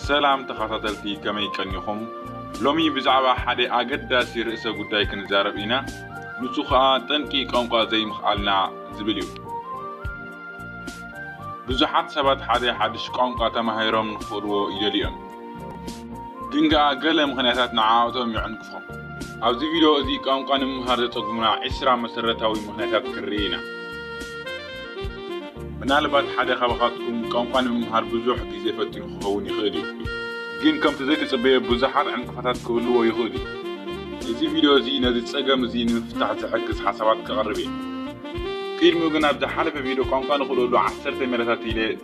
ሰላም ተኻታተልቲ ከመይ ቀኒኹም? ሎሚ ብዛዕባ ሓደ ኣገዳሲ ርእሰ ጉዳይ ክንዛረብ ኢና፣ ንሱ ኸኣ ጠንቂ ቋንቋ ዘይምኽኣልና ዝብል እዩ። ብዙሓት ሰባት ሓደ ሓድሽ ቋንቋ ተማሂሮም ንኽኽእልዎ ይደልዩ እዮም። ግን ከኣ ገለ ምኽንያታት ንዓኣቶም ይዕንቅፎም። ኣብዚ ቪድዮ እዚ ቋንቋ ንምምሃር ዘጸግሙና ዕስራ መሰረታዊ ምኽንያታት ክንርኢ ኢና። ምናልባት ሓደ ካባኻትኩም ቋንቋ ንምምሃር ብዙሕ ግዜ ፈቲኑ ክኸውን ይኽእል እዩ፣ ግን ከምቲ ዘይትጽበዮ ብዙሓት ዕንቅፋታት ክህልዎ ይኽእሉ እዩ። እዚ ቪድዮ እዚ ነዚ ጸገም እዚ ንምፍታሕ ዝሕግዝ ሓሳባት ከቕርብ እየ። ቅድሚኡ ግን ኣብ ዝሓለፈ ቪድዮ ቋንቋ ንኽእለሉ ዓሰርተ ሜላታት ኢለ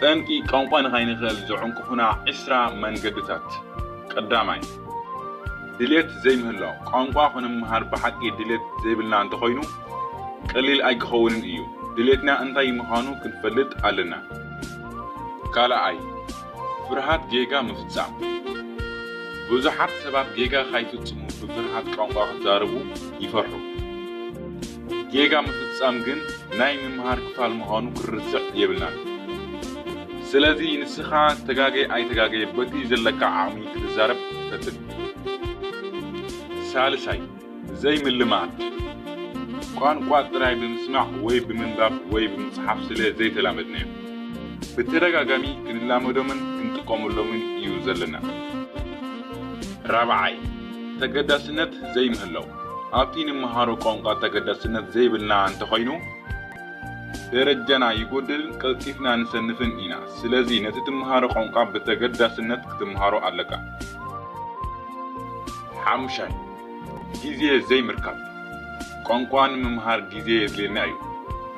ጠንቂ ቋንቋ ንኸይንኽእል ዝዕንቅፉና ዕስራ መንገድታት። ቀዳማይ፣ ድሌት ዘይምህላው፣ ቋንቋ ክንምሃር ብሓቂ ድሌት ዘይብልና እንተኾይኑ ቀሊል ኣይክኸውንን እዩ። ድሌትና እንታይ ምኻኑ ክንፈልጥ ኣለና። ካልኣይ፣ ፍርሃት ጌጋ ምፍጻም፣ ብዙሓት ሰባት ጌጋ ካይፍጽሙ ብፍርሃት ቋንቋ ክዛረቡ ይፈርሑ። ጌጋ ምፍጻም ግን ናይ ምምሃር ክፋል ምዃኑ ክንርስዕ የብልናን። ስለዚ ንስኻ ተጋገየ ኣይተጋገየ በቲ ዘለካ ዓቕሚ ክትዛረብ ፈትን። ሳልሳይ፣ ዘይምልማድ። ቋንቋ ጥራይ ብምስማዕ ወይ ብምንባብ ወይ ብምጽሓፍ ስለ ዘይተላመድናዮም፣ ብተደጋጋሚ ክንላመዶምን ክንጥቀመሎምን እዩ ዘለና። ራብዓይ፣ ተገዳስነት ዘይምህላው። ኣብቲ ንመሃሮ ቋንቋ ተገዳስነት ዘይብልና እንተኾይኑ፣ ደረጃና ይጎድልን ቀልጢፍና ንሰንፍን ኢና። ስለዚ ነቲ ትመሃሮ ቋንቋ ብተገዳስነት ክትመሃሮ ኣለካ። ሓሙሻይ፣ ግዜ ዘይምርካብ። ቋንቋ ንምምሃር ግዜ የድልየና እዩ።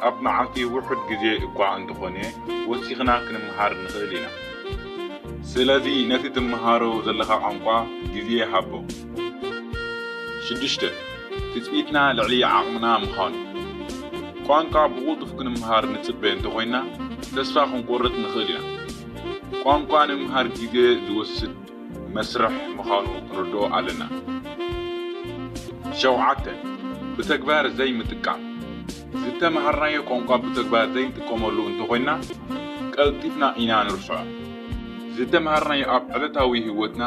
ኣብ መዓልቲ ውሑድ ግዜ እኳ እንተኾነ ወሲኽና ክንመሃር ንኽእል ኢና። ስለዚ ነቲ ትመሃሮ ዘለኻ ቋንቋ ግዜ ሃቦ። ሽዱሽተ፣ ትጽቢትና ልዕሊ ዓቕምና ምዃኑ። ቋንቋ ብቕልጡፍ ክንምሃር ንጽበ እንተኾይንና ተስፋ ክንቆርጽ ንኽእል ኢና። ቋንቋ ንምምሃር ግዜ ዝወስድ መስርሕ ምዃኑ ክንርድኦ ኣለና። ሸውዓተ፣ ብተግባር ዘይምጥቃም። ዝተመሃርናዮ ቋንቋ ብተግባር ዘይንጥቀመሉ እንተኾይንና ቀልጢፍና ኢና ንርስዖ። ዝተመሃርናዮ ኣብ ዕለታዊ ህይወትና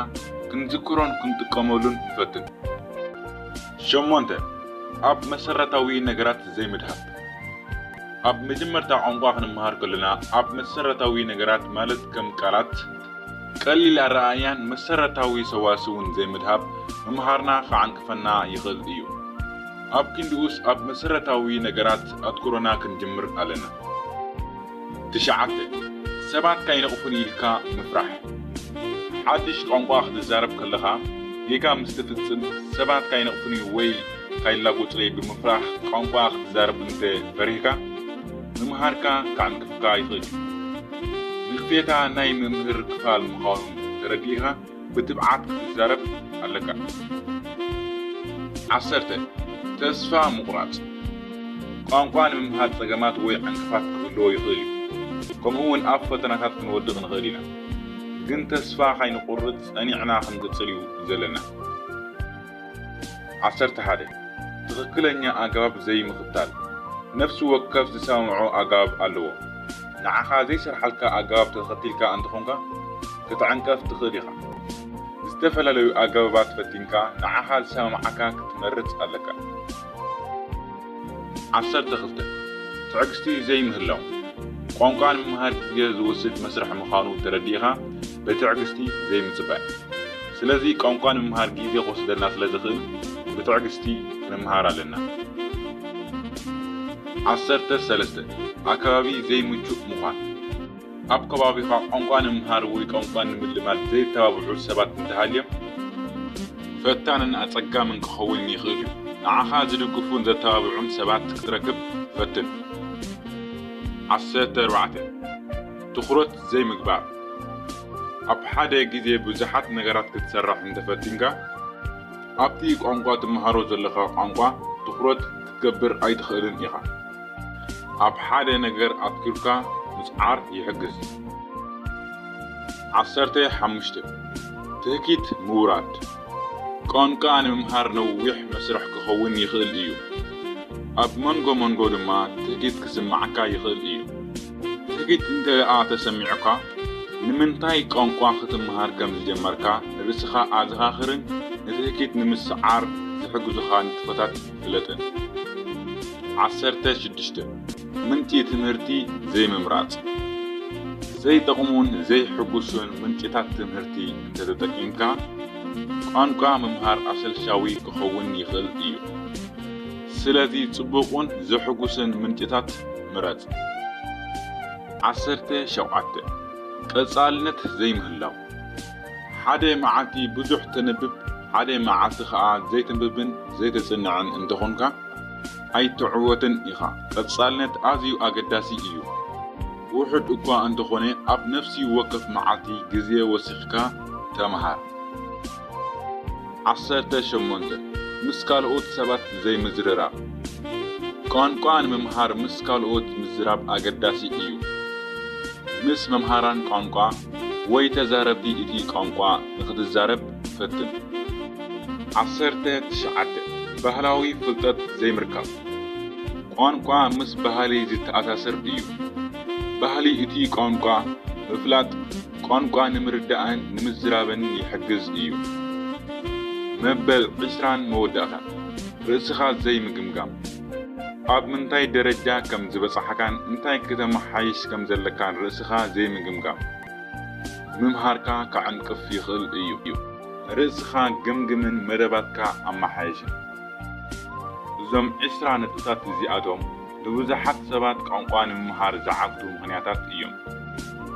ክንዝክሮን ክንጥቀመሉን ንፈትን። ሸሞንተ፣ ኣብ መሰረታዊ ነገራት ዘይምድሃብ። ኣብ መጀመርታ ቋንቋ ክንመሃር ከሎና ኣብ መሰረታዊ ነገራት ማለት ከም ቃላት፣ ቀሊል ኣረኣእያን መሰረታዊ ሰዋስውን ዘይምድሃብ ምምሃርና ክዓንቅፈና ይኽእል እዩ። ኣብ ክንድኡስ ኣብ መሰረታዊ ነገራት ኣትኩሮና ክንጅምር ኣለና። ትሽዓተ፣ ሰባት ካይነቕፉኒ ኢልካ ምፍራሕ። ሓድሽ ቋንቋ ክትዛረብ ከለኻ ጌጋ ምስ ትፍጽም ሰባት ካይነቕፉኒ ወይ ካይላጎጹለይ ብምፍራሕ ቋንቋ ክትዛረብ እንተ ፈሪህካ፣ ምምሃርካ ከዕንቅፍካ ይኽእል እዩ። ንቕፌታ ናይ ምምህር ክፋል ምዃኑ ተረዲእኻ፣ ብትብዓት ክትዛረብ ኣለካ። ዓሰርተ፣ ተስፋ ምቑራጽ፣ ቋንቋ ንምምሃር ጸገማት ወይ ዕንቅፋት ክህልዎ ይኽእል እዩ፣ ከምኡ'ውን ኣብ ፈተናታት ክንወድቕ ንኽእል ኢና። ግን ተስፋ ካይንቑርጽ ጸኒዕና ክንቅጽል እዩ ዘለና። ዓሰርተ ሓደ፣ ትኽክለኛ ኣገባብ ዘይምኽታል፣ ነፍሲ ወከፍ ዝሰማምዖ ኣገባብ ኣለዎ። ንዓኻ ዘይሰርሓልካ ኣገባብ ተኸቲልካ እንተኾንካ ክትዕንቀፍ ትኽእል ኢኻ። ዝተፈላለዩ ኣገባባት ፈቲንካ ንዓኻ ዝሰማምዓካ ክትመርጽ ኣለካ። ዓሰርተ ክልተ፣ ትዕግስቲ ዘይምህላው፣ ቋንቋ ንምምሃር ግዜ ዝወስድ መስርሕ ምዃኑ ተረዲእኻ ብትዕግስቲ ዘይምጽባይ። ስለዚ ቋንቋ ንምምሃር ግዜ ክወስደልና ስለ ዝኽእል ብትዕግስቲ ክንምሃር ኣለና። ዓሰርተ ሰለስተ፣ ኣከባቢ ዘይምቹእ ምዃን። ኣብ ከባቢኻ ቋንቋ ንምምሃር ወይ ቋንቋ ንምልማድ ዜተባብዑ ሰባት እንተ ሃልዮም፣ ፈታንን ኣጸጋምን ኪኸውን ይኽእል እዩ። ንዓኻ ዚድግፉን ዘተባብዑን ሰባት ክትረክብ ፈትን። ዓሰርተ ኣርባዕተ፣ ትኹረት ዘይምግባር፣ ኣብ ሓደ ግዜ ብዙሓት ነገራት ክትሰርሕ እንተ ፈቲንካ፣ ኣብቲ ቋንቋ ትመሃሮ ዘለኻ ቋንቋ ትኹረት ክትገብር ኣይትኽእልን ኢኻ። ኣብ ሓደ ነገር ኣትኲርካ ምጽዓር ይሕግዝ። ዓሰርተ ሓሙሽተ፣ ትህኪት ምውራድ፣ ቋንቋ ንምምሃር ነዊሕ መስርሕ ክኸውን ይኽእል እዩ፣ ኣብ መንጎ መንጎ ድማ ትህኪት ክስምዓካ ይኽእል እዩ። ትህኪት እንተደኣ ተሰሚዑካ፣ ንምንታይ ቋንቋ ክትመሃር ከም ዝጀመርካ ርእስኻ ኣዘኻኽርን ንትህኪት ንምስዓር ዝሕግዙኻ ንጥፈታት ፍለጠን። ዓሰርተ ሽዱሽተ፣ ምንጪ ትምህርቲ ዘይምምራጽ፣ ዘይጠቕሙን ዘይሕጉሱን ምንጪታት ትምህርቲ እንተተጠቂምካ፣ ቋንቋ ምምሃር ኣሰልቻዊ ክኸውን ይኽእል እዩ። ስለዚ ጽቡቕን ዘሕጉስን ምንጪታት ምረጽ። ዓሰርተ ሸውዓተ፣ ቀጻልነት ዘይምህላው፣ ሓደ መዓልቲ ብዙሕ ተንብብ ሓደ መዓልቲ ከኣ ዘይተንብብን ዘይተጽንዕን እንተኾንካ ኣይትዕወትን ኢኻ። ቀጻልነት ኣዝዩ ኣገዳሲ እዩ። ውሑድ እኳ እንተኾነ ኣብ ነፍሲ ወከፍ መዓልቲ ግዜ ወሲኽካ ተመሃር። ዓሰርተ ሸሞንተ፣ ምስ ካልኦት ሰባት ዘይምዝርራብ። ቋንቋ ንምምሃር ምስ ካልኦት ምዝራብ ኣገዳሲ እዩ። ምስ መምሃራን ቋንቋ። ወይ ተዛረብቲ እቲ ቋንቋ ንኽትዛረብ ፈትን። ዓሰርተ ትሽዓተ፣ ባህላዊ ፍልጠት ዘይምርካብ። ቋንቋ ምስ ባህሊ ዝተኣሳሰር እዩ። ባህሊ እቲ ቋንቋ ምፍላጥ ቋንቋ ንምርዳእን ንምዝራብን ይሕግዝ እዩ። መበል ዕስራን መወዳእታን፣ ርእስኻ ዘይምግምጋም። ኣብ ምንታይ ደረጃ ከም ዝበጻሕካን እንታይ ክተመሓይሽ ከም ዘለካን ርእስኻ ዘይምግምጋም፣ ምምሃርካ ከዐንቅፍ ይኽእል እዩ። ርእስኻ ገምግምን መደባትካ ኣመሓይሽን። እዞም ዕስራ ነጥብታት እዚኣቶም ንብዙሓት ሰባት ቋንቋ ንምምሃር ዝዓግቱ ምኽንያታት እዮም።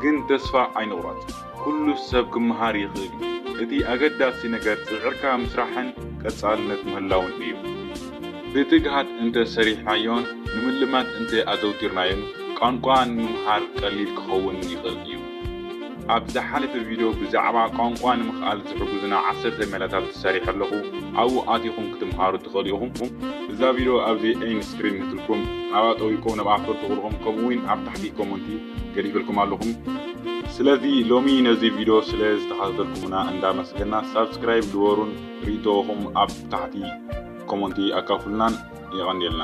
ግን ተስፋ ኣይንቑረጽ። ኩሉ ሰብ ክመሃር ይኽእል እዩ። እቲ ኣገዳሲ ነገር ጽዕርካ ምስራሕን ቀጻልነት ምህላውን እዩ። ብትግሃት እንተ ሰሪሕናዮን ንምልማድ እንተ ኣዘውቲርናዮን ቋንቋ ንምምሃር ቀሊል ክኸውን ይኽእል እዩ። ኣብ ዝሓለፈ ቪድዮ ብዛዕባ ቋንቋ ንምኽኣል ዝሕጉዙና ዓሰርተ ሜላታት ሰሪሐ ኣለኹ፣ ኣብኡ ኣቲኹም ክትምሃሩ ትኽእሉ ኢኹም። እዛ ቪድዮ ኣብዚ ኤንድ ስክሪን ንትልኩም፣ ኣብኣ ጠዊቅኩም ንብኣ ክተርትኹ ኢኹም ከምኡ'ውን ኣብ ታሕቲ ኮመንቲ። ገዲፈልኩም ኣለኹም። ስለዚ ሎሚ ነዚ ቪድዮ ስለ ዝተኸታተልኩምና እንዳመስገና ሳብስክራይብ ግበሩን ሪኢቶኹም ኣብ ታሕቲ ኮሞንቲ ኣካፍሉናን የቐንየልና።